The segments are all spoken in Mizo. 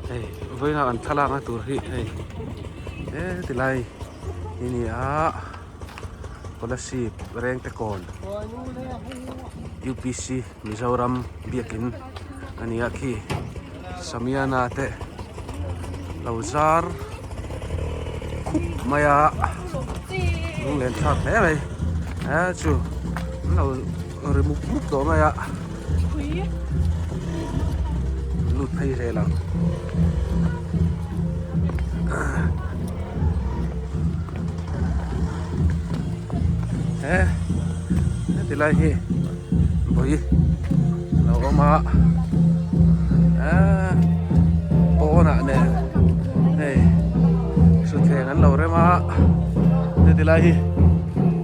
Hei vawiinah kan thlalak na tur hi hei he ti lai hi ni a scholarship reng te kawn upc mizoram biakin a ni a khi samiana te lo zar khup mai a lunglenthlak hle mai a chu an lo. Ri muk muk tawh mai a. Lut phei hle lo. He. Ti lai hi. Boi. Lo awm a. A. Pawna ne. Hei. Su thleng an lo rem a. Ti lai hi.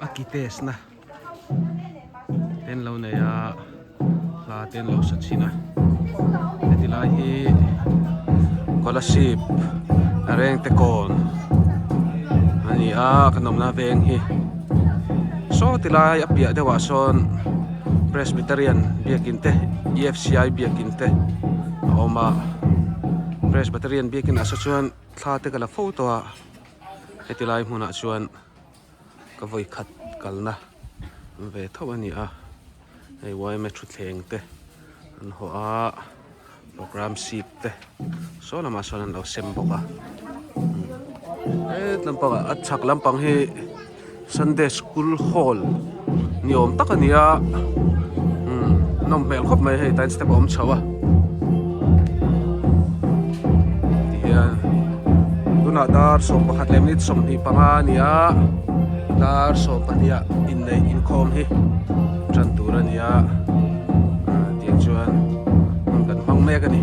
A ki test na te an lo nei a, hla te an lo sa chhin a, heti lai hi scholarship a reng te kawn a ni a, kan awmna veng hi saw ti lai a piah deuhah sawn presbyterian biakin te EFCI biakin te a awm a, presbyterian biakin ah se chuan thla te ka la fo tawh a, heti lai hmunah chuan. Ka vawi khat kalna an ve tho a ni a, hei ym-a thutthleng te an haw a, programme sheet te saw lamah sawn an lo sem bawk a, hetlam pangah a chhak lampang hi Sunday school hall. ni awm tak a ni a umm nawm hmel khawp mai hei tain step a awm chho a tihian tunah dar sawm pakhat leh minute sawmhnih panga a ni a dar sawm pahniha inneih inkhawm hi a tan tur a ni a ah tiang chuan hmun kan hmang mek a ni.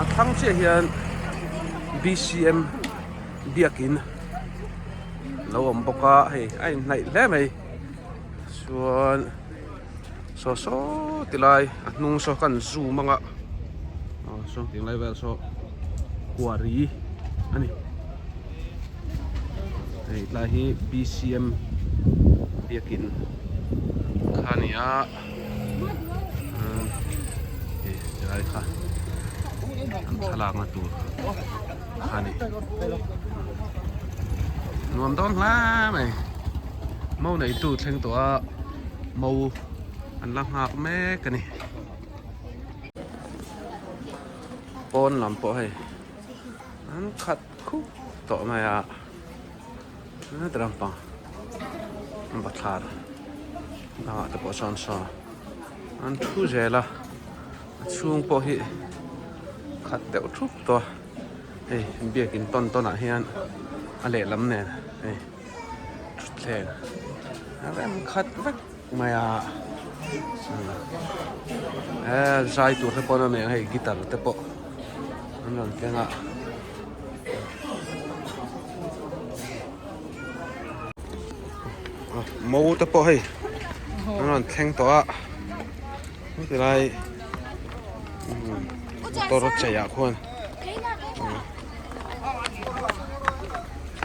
A thlang chiah hian BCM biakin lo awm bawk a hei a inhnaih hle mai chuan saw saw ti lai a hnung saw ka han zoom ang a aw sawn tih ang lai vel saw Huari a ni hei tlai hi BCM biakin kha a ni a. helai kha kan thlalak na tur kha ni nuam dawn hla mai mo nei tu thleng tawh a mo an la nghak mek a ni pawn lam pawh hei an khat Khuk tawh mai a, hetah ram pang Bathlar banga te pawh chuan saw an thu zel a, a chhung pawh hi khat deuh thup tawh a, hei biakin tawn tawn ah hian a lehlam nen hei thutthleng rem khat vek. Mai a eee zai tur te pawh a nih ang hei guitar te pawh an rawn keng a mo te pawh hei an rawn thleng tawh a heti lai motor chei ah khuan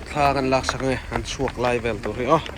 thla kan lak sak nge an chhuak lai vel tur hi aw.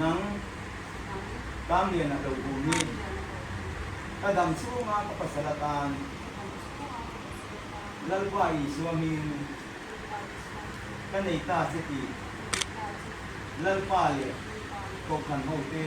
Nang Tam lian a to u mi. Ka dam chhunga ka pasal atan Lalpa i zuamin ka nei ta che ti Lalpa leh Kohhran ho te.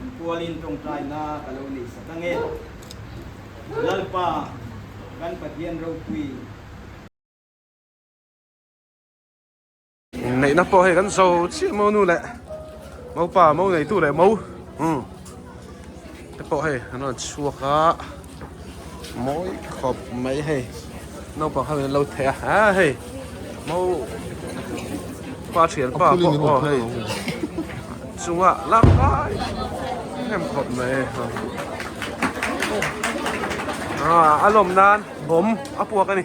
Min kualin tawngtai na ka lo nei sa ta nge. Lalpa kan Pathian ropui. Inneihna pawh hei kan zo chiah mo nu leh mopa mo neitu leh mo te pawh hei an rawn chhuak a. Mawi khawp mai hei naupang ho in lo thei a a hei mo pa thian pa pawh aw hei chunga lak lai em khawp mai a a lawm nan bawm a puak a ni.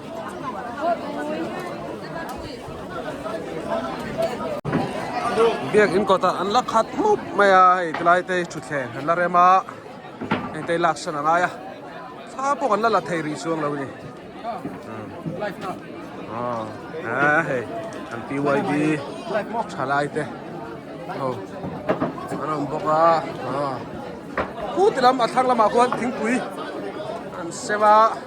Biak in kawtah an la khat hmup mai a, hei ti lai te hi thutthleng an la rem a, engte hi laksan a ngai a, thla pawh an la la thei rih chuang lo a ni. Aw aa hei an pyb tha lai te ho an awm bawk a, aw khutilam a thlang lamah khuan thingpui an sem a.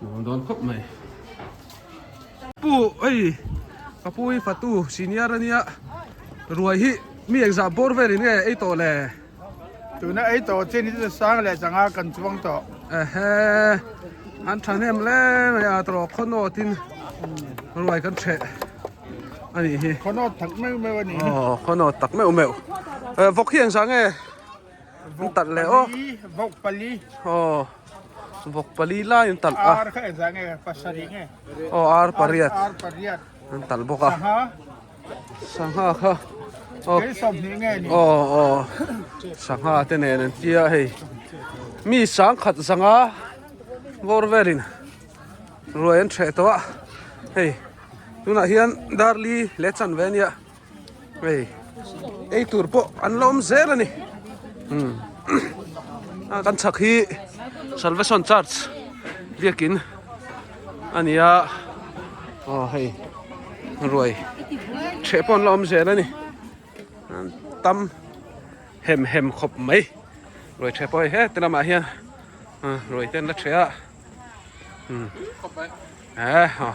Nuam dawn khawp mai. Pu awii ka pu hi fatu senior ania ruai hi mi exam bawr verin nge ei tawh le. Tuna ei tawh chin hi chu sang leh chang a kan chuang tawh. Ehe an thahnem hle mai a tawrh khawnaw tin ruai kan chheh anih hi. Khawnaw tak meuh meuh ani. Aw khawnaw tak meuh meuh. Vawk hi engzah nge. An talh leh aw. Vawk pali. Aw. Vawk pali lai an talh a. Ar kha en zang e pasarih nge. Aw ar pariat. Ar pariat. An talh bawk a. Sangha. Sangha kha. Aw. Kei sawm hnih nge ni. Aw aw. Sangha te nen an tia hei. Mi sang khat zanga bawr velin ruai an hreh tawh a. Hei tunah hian darli leh chanve nia. Hei, ei tur pawh an la awm zel a ni. Hmm. A kan chak hi Salvation Church biakin a ni a. Aw hei, ruai che pawh an la awm zel a ni. An tam hem hem khawp mai. Ruai che pawh hei heti lamah hian ruai te an la che a. Hmm. Eh, aw.